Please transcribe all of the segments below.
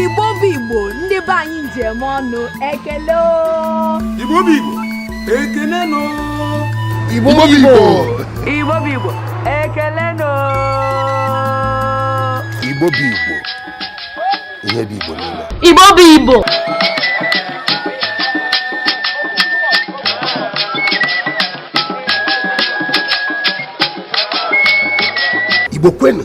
igbo bụ igbo ndị be anyị ji eme ọnụ ekele o. Igbo bụ Igbo ekele nụ Igbo bụ Igbo Igbo bụ Igbo ekele nụ. Igbo bụ Igbo ihe bụ Igbo niile Igbo bụ Igbo Igbo kwenu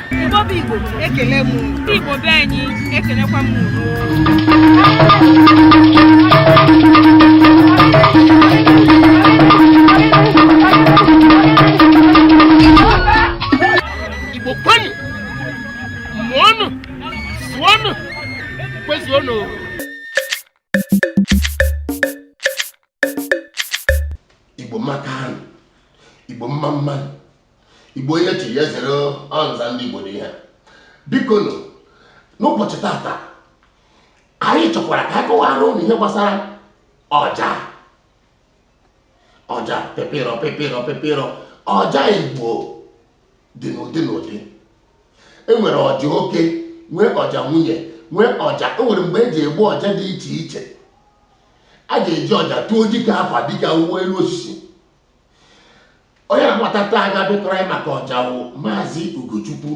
Igbo bụ Igbo ekele m Igbo be anyị ekelekwa m Igbo kwenu mụọnụ zụọnụ kwezuonụ igbo amaka nụ igbo mma mma nụ igbo onye chi ya zere ọnza ndị igbo dị ihe biko nụ n'ụbọchị tata anyị chọkwara ka anyị kọwara ụnụ ihe gbasara ọja ọja pepịrọ pepịrọ pepịrọ ọja igbo dị n'ụdị n'ụdị enwere ọja oke nwee ọja nwunye nwee ọja enwere mgbe eji egbu ọja dị iche iche a ga-eji ọja tụọ dike afa dike awụwe elu osisi onye na-abata taa ga-abịa kọwara anyị maka ọja wụ maazị ugochukwu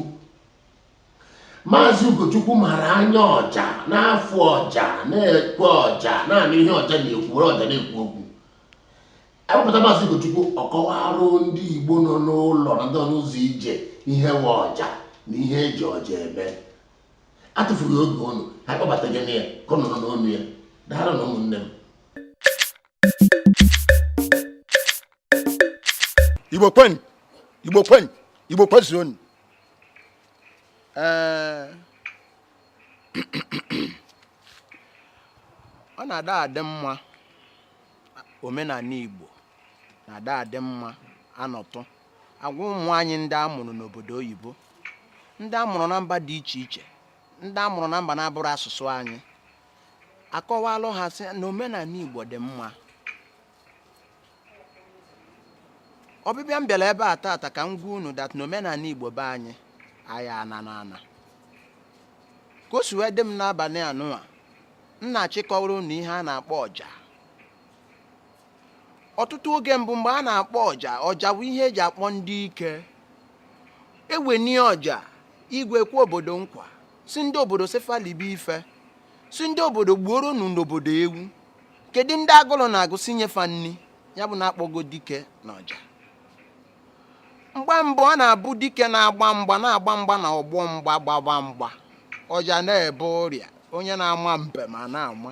maazị ugochukwu mara anya ọja na-afụ ọja na-ekwe ọja na-anụ ihe ọja na-ekwu were ọja na-ekwu okwu ewepụta maazị Ugochukwu ọ kọwarụ ndị Igbo nọ n'ụlọ na ndị n'ụzọ ije ihe wụ ọja na ihe eji ọja eme atụfughị oge ụnụ ha kpọbataghị na ya ka ụnụ nụ n'ọnụ ya daalụ nụ ụmụnne m Igbo kwenu Igbo kwenu Igbo kwezuonu ee ọ na-ada adị mma omenala Igbo na-ada adị mma a nọtụ agwa ụmụ anyị ndị a mụrụ n'obodo oyibo ndị a mụrụ na mba dị iche iche ndị a mụrụ na mba na-abụrọ asụsụ anyị akọwalụ ha sị na omenala Igbo dị mma ọbịbịa m bịara ebe a taata ka m gwa unu that na omenala Igbo be anyị anyị ana na ana ka o si wee dị m n'abalị anụwa m na-achọ ịkọwara unu ihe a na-akpọ ọja ọtụtụ oge mbụ mgbe a na-akpọ ọja ọja bụ ihe eji akpọ ndị ike eweni ọja i kwekwa obodo nkwa sị ndị obodo sị fa libe ife sị ndị obodo gbuoro nu n'obodo ewu kedu ndị agụrụ na-agụ sị nye fa nni ya bụ na akpọgo dike na ọja mgbe mbụ ọ na-abụ dike na-agba mgba na-agba mgba na ọgbọ mgba gbaba mgba ọja na-ebe ụrịa onye na-ama mbem a na-ama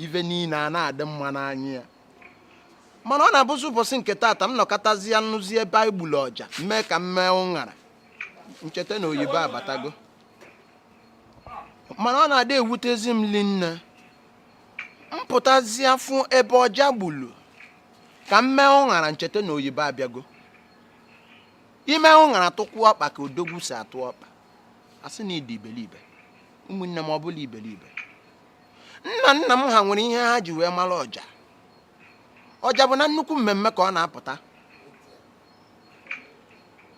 ife niile a na-adị mma n'anya ya mana ọ na-abụzi ụbọchị nke taata m nọkatazie nụzie ebe e gbulu ọja mee ka m mee ụṅara ncheta na oyibo abatago mana ọ na-adị ewutezi m linne m pụtazịa fụ ebe ọja gbulu ka m mee ụṅara ncheta na oyibo abịago i mee ụṅara tụkwuo ọkpa ka odogwu si atụ ọkpa a sị na ị dị iberibe ụmụnne m ọ bụla iberibe nna nna m ha nwere ihe ha ji wee mara ọja ọja bụ na nnukwu mmemme ka ọ na-apụta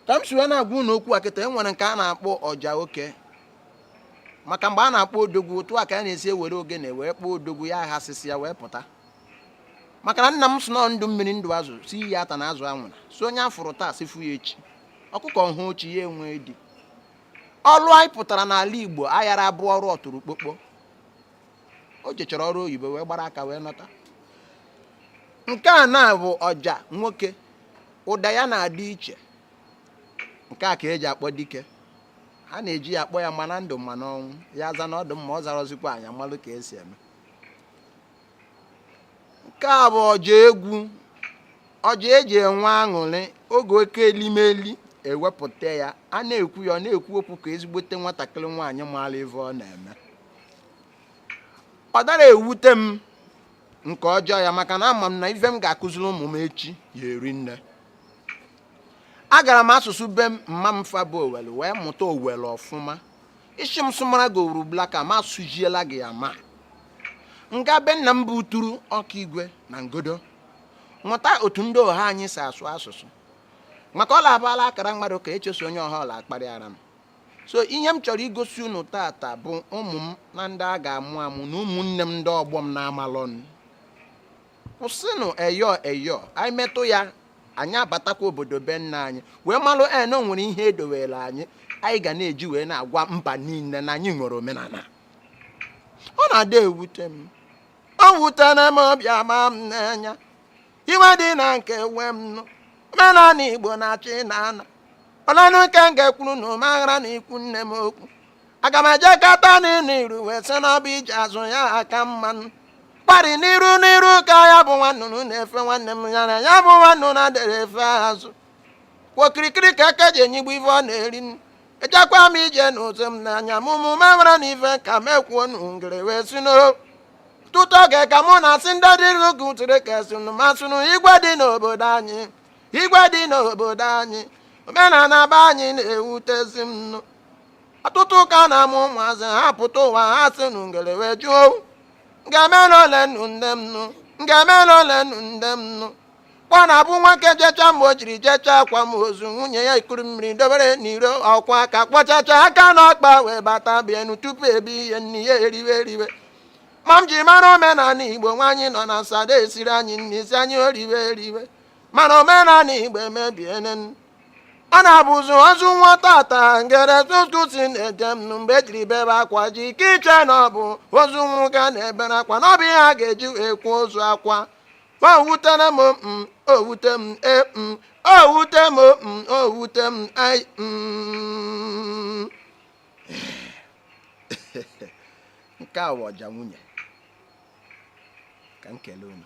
ka m si wee na-agwa unu okwu a kịta e nwere nke a na-akpọ ọja oke maka mgbe a na-akpọ odogwu otu a ka a na-esi ewere ogene wee kpọọ odogwu ya aghasịsịa wee pụta maka na nna m sị na ndụ mmiri ndụ azụ sị iyi atana azụ anwụna sị onye a fụrụ taa sị fụ ya echi ọkụkọ hụ ochi ya enwe di ọrụ anyị pụtara n'ala igbo ayara abụ ọrụ ọtụrụkpọkpọ o jechara ọrụ oyibo wee gbara aka wee nọta nke a na-abụ ọja nwoke ụda ya na-adị iche nke a ka e ji akpọ dike a na-eji ya akpọ ya ma na ndụ ma na ọnwụ ya aza na ọ dụ mma ọ zarọzikwa anyị amalụ ka e si eme nke a bụ ọja egwu ọja e ji enwe aṅụrị oge oke elimeli e wepụta ya a na-egbu ya ọ na-ekwu okwu ka ezigbote nwatakịrị nwaanyị maara ife ọ na-eme ọ dara ewute m nke ọjọọ ya maka na ama m na ife m ga-akụziri ụmụ m echi ya-eri nne agara m asụsụ be m mma m fa bụ owere wee mụta owere ọfụma ị sị m sụmara gị owere ugbulaka m asụjiela gị ya ma nga be nna m bụ uturu okigwe na ngodo mụta otu ndị ọha anyị si asụ asụsụ maka ọ la-abụ a la-akara mmadụ ka echeso onye ọha ọla akparịara m so ihe m chọrọ igosi unu taata bụ ụmụ m na ndị a ga-amụ amụ na ụmụnne m ndị ọgbọ m na-amalọnụ kwụsịnụ eyo eyo anyị metụ ya anyị abatakwa obodo be nna anyị wee malụ na o nwere ihe e dowere anyị anyị ga na-eji wee na-agwa mba niile na anyị nwere omenala ọ na-adị ewute m o wutere m ọ bịa ma m n'anya iwe dị na nke we m nụ omenala igbo na-achọ ịna ana olenụ nke m ga-ekwuru nụ m aghara na ikwu nne m okwu aga m eje kata nụ iru wee sị na ọ bụ ije azụ ya aka mma nụ kwa rị n'iru n'iru ka ya bụ nwannụnụ na-efe nwanne m ya na ya bụ nwannụnụ na-adịrọ efe azụ okirikiri ka eke ji enyigbu ife ọ na-eri nri. ejekwa m ije n'ụzọ m n'anya m ụmụ ma mara na ife ka m ekwuo nụ ngere wee si n'ọtụtụ oge ka mụ na-asị ndị dịrị oge ụtụrụ ka esinụ masịnụ igwe dị n'obodo anyị igwe dị n'obodo anyị omenala be anyị na-ewutezi m nụ ọtụtụ ụka na-amụ ụmụazị ha pụta ụwa ha sị nụ ngere wee jụọ ngemere ole nnu nne m nụ ngemere ole nnu nne m nụ kwa na-abụ nwoke jecha mgbe o jiri jecha akwamozu nwunye ya ekuru mmiri dobere n'iro ọ kwaa aka kwọchachaa aka n'ọkpa wee bata bienu tupu ebi ihe nni ya eriwe eriwe ma m ji mara omenala igbo nwaanyị nọ na nsọ ada esiri anyị nni sị anyị riwe eriwe mana omenala igbo emebiene na-abụzi ozu nwa tata ngere tụtụsi na-eje m mgbe ejiri bebe akwa ji ike iche na ọ bụ ozu nwoke na-ebere akwa na ọ bụ ihe a ga-eji wee kwuo ozu akwa owutere m m owute m e m owute m m owute m ai m nke a wụ ọja nwunye ka m kelee unu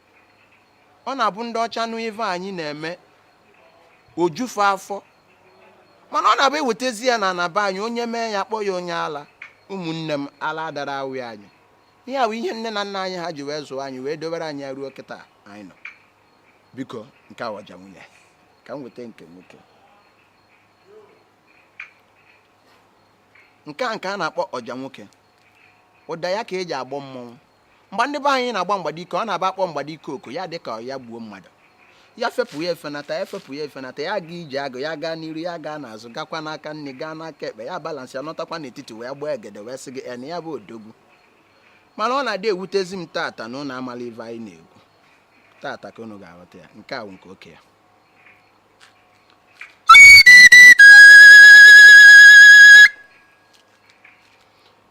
ọ na-abụ ndị ọcha nụ ife anyị na-eme o jufe afọ mana ọ na-abụ ewetezi ya na ana be anyị onye mee ya kpọọ ya onye ala ụmụnne m ala dara awị anyị ihe a bụ ihe nne na nna anyị ha ji wee zụọ anyị wee dobere anyị ruo kịta anyị nọ biko nke a wụ ọja nwunye ka m weta nke nwoke nke a ka a na-akpọ ọja nwoke ụda ya ka eji akpọ mmọnwụ mgbe ndị be anyị na-agba mgbadike ọ na-abụ a kpọọ mgbadike oku ya dịka ya gbuo mmadụ ya fepụ ya efenata ya fepụ ya efenata ya aga ije agụ ya gaa n'iru ya gaa n'azụ gakwa n'aka nni gaa n'aka ekpe ya balance ya nọtakwa n'etiti wee gbaa egede wee sị gị en ya bụ odogwu mana ọ na-adị ewutezi m tata na ụnụ amala ive anyị na-ekwu tata ka ụnụ ga-aghọta ya nke a bụ nke oke ya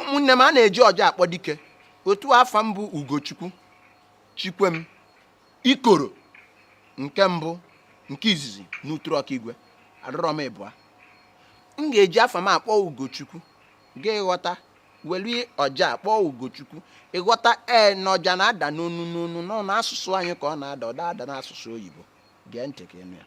ụmụnne m a na-eji ọja akpọ dike otu a afa m bụ ugochukwu chikwem ikoro nke mbụ nke izizi n'uturu ọkaigwe adọrọ m ịbụa m ga-eji afa m akpọ ugochukwu ka ị ghọta welu ọja kpọọ ugochukwu ị ghọta ee na ọja na-ada n'ọnụ n'ọnụ na ọ n'asụsụ anyị ka ọ na-ada ọ da ada n'asụsụ oyibo gee ntị ka ị nụ ya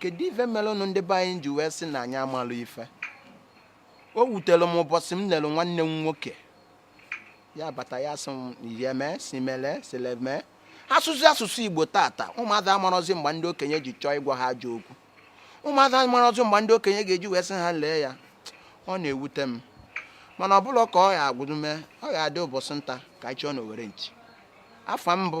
kedu ife melụnụ ndị be anyị ji wee sị na anyị amalụ ife o wutere m ụbọsị m nelụ nwanne m nwoke ya bata ya sị m yeme simele sileme asụsụ asụsụ igbo tata ụmụaza amarọzi mgbe ndị okenye ji chọọ ịgwa ha ajọ okwu ụmụaza amarọzi mgbe ndị okenye ga-eji wee sị ha lee ya ọ na-ewute m mana ọ bụla ka ọ ya agwụdume ọ ga-adị ụbọsị nta ka anyị chụọ n'owere nchi afa m bụ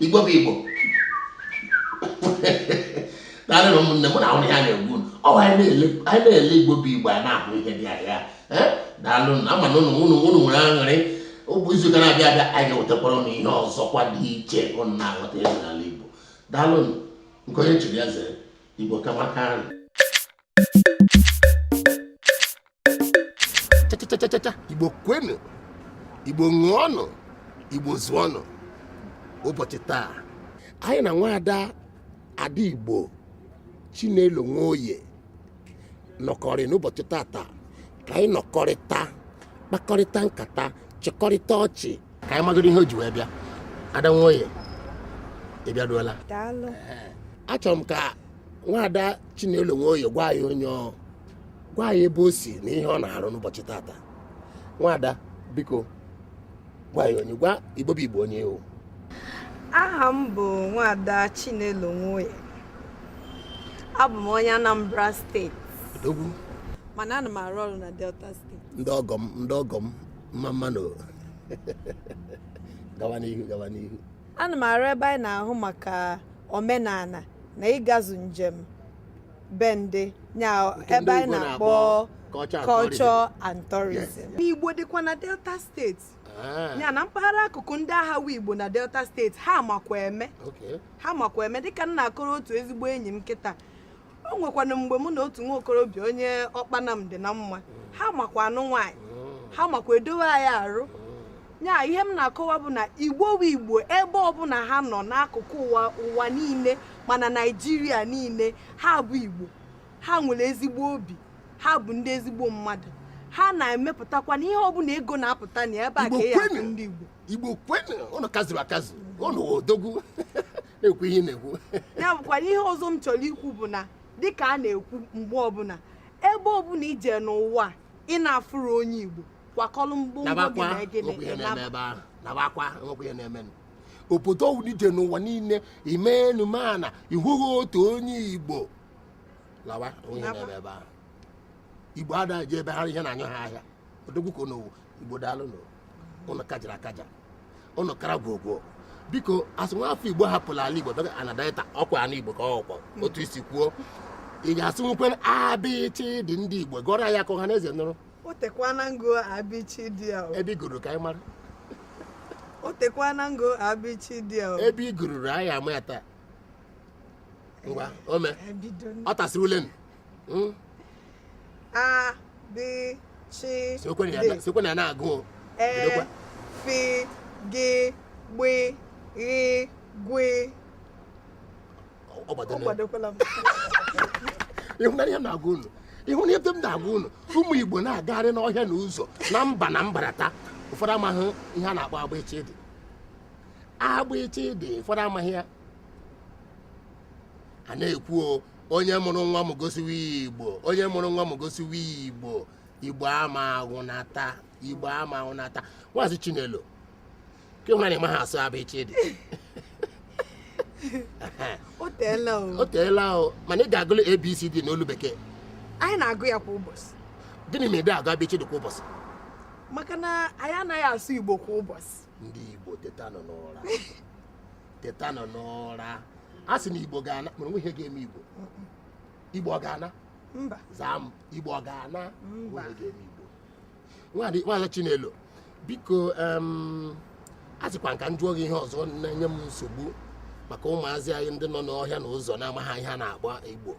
igbo bụ igbo daalụ nụ ụmụnne mụ na ahụ ya na-egbu ọwa anyị na-ele igbo bụ igbo anyị na-ahụ ihe dị ahịa daalụ nụ ama m na ụnụ ụnụ ụnụ nwere aṅụrị ọ bụ izu ụka na-abịa abịa anyị ga-ewetakwara ụnụ ihe ọzọkwa dị iche ụnụ na-aghọta ezi n'ala igbo daalụ nke onye chiri ya zere igbo kamaka ahụ chachachachacha igbo kwenu igbo ṅụọnụ igbo zụọnụ ụbọchị taa anyị na nwaada ada igbo chinelo nwoye nọkọrị n'ụbọchị tata ka anyị nọkọrịta kpakọrịta nkata chịkọrịta ọchị ka anyị magoro ihe o ji wee bịa ada nwoye ị bịaruola daalụ achọrọ m ka nwaada Chinelo Nwoye gwa anyị onye ọ gwa anyị ebe o si na ihe ọ na-arụ n'ụbọchị tata nwaada biko gwa anyị onye gwa igbo bụ igbo onye ị wụ aha m bụ nwaada Chinelo Nwoye abụ m onye Anambra steeti odogwu mana ana m arụ ọrụ na Delta steeti ndị ọgọ m ndị ọgọ m mma mma nụ gawa n'ihu gawa n'ihu ana m arụ ebe anyị na-ahụ maka omenana na ịgazu njem be ndị nya Nke ebe ndị anyị Igbo na-akpọ na-akpọ culture and culture and tourism Yes. igbo dịkwa na delta steeti Ah, ya na mpaghara akụkụ ndị ahụ wụ igbo na delta steeti ha makwa eme okay. ha makwa eme dịka m na-akọrọ otu ezigbo enyi m kịta o nwekwanụ mgbe mụ na otu nwa okorobịa onye ọkpanam dị na mma ha makwa anụ nwaanyị ha makwa edowe anyị arụ ya ihe m na-akọwa bụ na igbo bụ igbo ebe ọbụna ha nọ n'akụkụ ụwa ụwa niile ma na naijiria niile ha bụ igbo ha nwere ezigbo obi ha bụ ndị ezigbo mmadụ ha na-emepụtakwanụ ihe ọbụna ego na-apụta na ebe a ka e ya ndị igbo igbo kwenu ụnụ kaziri akazi ụnụ wụ odogwu na-ekwu ihe na-ekwu ya bụkwa ihe ọzọ m chọrọ ikwu bụ na dịka a na-ekwu mgbe ọbụla ebe ọbụla i je n'ụwa ị na-afụrụ onye Igbo kwakọrọ ngwongwo gị na gịnị obodo ọwụla i je n'ụwa niile imenu mana ị hụghị otu onye Igbo lawa o nweghị ihe na-eme ebe ahụ Igbo ada eje ebe ha ihe na-anyụ ha ahịa odogwu ka igbo daalụnụ ụnụ kajara akaja ụnụ kara gwogwo biko a sị nwa afọ igbo hapụrụ ala igbo bịa ana Delta ọkwa ala igbo ka ọkwa otu i si kwuo ị ga-asụnwukwe abịchịdị ndị igbo gụọrọ ya ka ọha na eze nụrụ o tekwana m gụọ abịchịdị ya o. ebe ị gụrụ ka anyị mara o tekwana m gụọ abịchịdị ya o. ebe ị gụrụrụ anyị ama ya taa ngwa ome Ebido n- ọ tasịrị ule nụ Hmm? a b ch d sekwe na ya na-agụ e f g gb gh gw ọ gbadokwala m ị hụna ihe m na-agwa unu ị hụna ihe m na-agwa unu ụmụ igbo na-agagharị n'ọhịa na ụzọ na mba na mbarata ụfọdụ amaghị ihe a na-akpọ abịchịdị abịchịdị ụfọdụ amaghị ya a na-ekwu onye mụrụ nwa m gosiwe ya igbo onye mụrụ nwa m gosiwe ya igbo igbo ama agwụnata igbo ama agwụnata nwaazị chinelo kee ihe mere ị maha asụ abịchịdị o teela o o teela o mana ị ga-agụlụ abcd n'olu bekee anyị na-agụ ya kwa ụbọchị gịnị mere ị dị agụ abịchịdị kwa ụbọchị maka na anyị anaghị asụ igbo kwa ụbọchị ndị Igbo tetanụ n'ụra tetanụ n'ụra a sị na Igbo ga-ana mana o nweghị ihe ga-eme Igbo Igbo ọ ga-ana mba zaa m Igbo ọ ga-ana o nweghị ihe ga-eme Igbo nwaazị Chinelo biko a sịkwa m ka m jụọ gị ihe ọzọ na-enye m nsogbu maka ụmụazị anyị ndị nọ n'ọhịa na ụzọ na-amaghị ihe a na-akpọ Igbo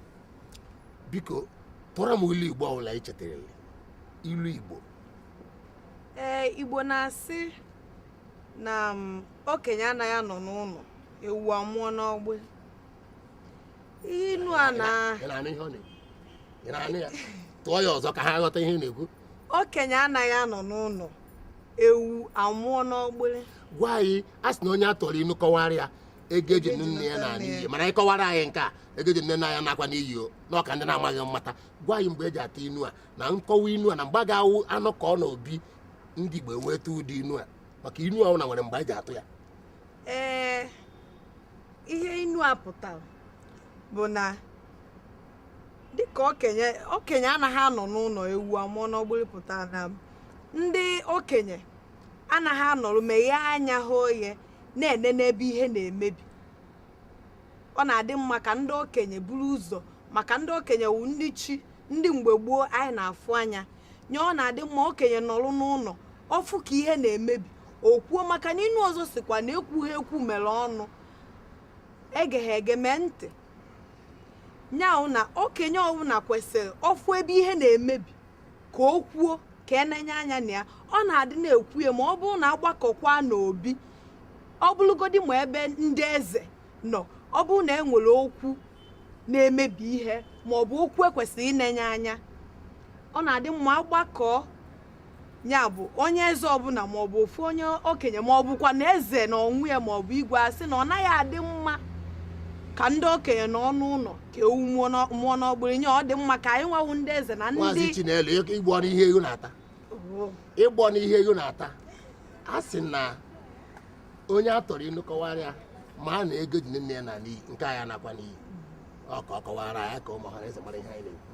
biko tụọrọ m ilu Igbo ọbụla i chetarala ilu Igbo ee igbo na-asị na mm, okenye anaghị anọ n'ụlọ ewu amụọ n'ọgbụrị inu a na Ị na-anụ ihe ọ na-ekwu? Ị na-anụ ya? Tụọ ya ọzọ ka ha ghọta ihe ị na-ekwu. okenye anaghị anọ n'ụlọ ewu amụọ n'ọgbụrị Gwa anyị, a sị na onye a tụọrọ inu kọwara ya ego e ji nụ nne ya naa n'iyi mana ị kọwara anyị nke a ego e ji nụ nne anyị nakwa n'iyi o ka ndị na-amaghị mata gwa anyị mgbe eji atụ inu a na nkọwa inu a na mgbe a ga-awụ anọkọọ n'obi ndị Igbo ewee tụọ ụdị inu a maka inu ọbụna nwere mgbe eji atụ ya ee ihe inu a pụtara bụ na dịka okenye okenye anaghị anọ n'ụlọ ewu amụọ n'ọgbụrụ pụta na ndị okenye anaghị anọrọ meghee anya ha oye na-ene n'ebe ihe na-emebi ọ na-adị mma ka ndị okenye buru ụzọ maka ndị okenye wụ ndị chi ndị mgbe gboo anyị na-afụ anya nye ọ na-adị mma okenye nọrụ n'ụlọ ọfụ ka ihe na-emebi o kwuo maka na inu ọzọ sịkwa na ekwughị ekwu mere ọnụ egeghị ege mee ntị nya wụ na okenye ọbụla kwesịrị ọfụ ebe ihe na-emebi ka o kwuo ka enenye anya na ya ọ na-adị na-ekwu ya ma ọ bụrụ na agbakọkwa n'obi ọ bụrụgodi ma ebe ndị eze nọ ọ bụrụ na e nwere okwu na-emebi ihe ma ọ bụ okwu ekwesịrị ịnenye anya ọ na-adị mma agbakọọ ya bụ onye eze ọbụla ma ọ bụ ofu onye okenye ma ọ bụkwa na eze n'onwe ya ma ọ bụ igwe asị na ọ naghị adị mma ka ndị okenye nọ n'ụlọ ka ewu mụọ n'ọ- mụọ n'ọgbụrụ nye ọ dị mma ka anyị nwa wụ ndị eze na maazị ndị Chinelo ịgbọ n'ihe ego na-ata Oh, ịgbọ n'ihe ego na-ata a sị na onye a tụọrọ inu kọwara ya mara na ego eji nụ nne ya naa n'iyi nke anyị nakwa n'iyi ọ ka ọ kọwara ya ka ụmụ ọhanaeze mara ihe anyị na-ekwu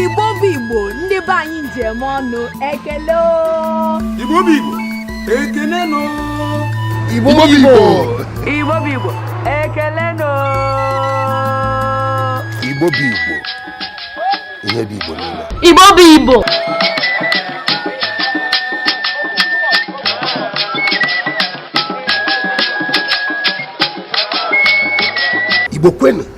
Igbo bụ Igbo ndị be anyị ndeemenụ ekele o. Igbo bụ Igbo ekele nụ. Igbo bụ Igbo. Igbo bụ Igbo ekele nụ. Igbo bụ Igbo ihe bụ Igbo niile. Igbo bụ Igbo. Igbo kwenu.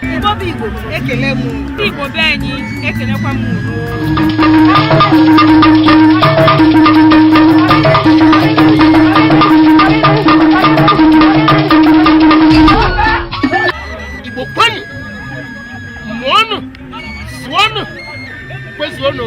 Igbo bụ Igbo ekele m Igbo be anyị ekelekwa m Igbo kwenu mụọnụ zụọnụ kwezuonụ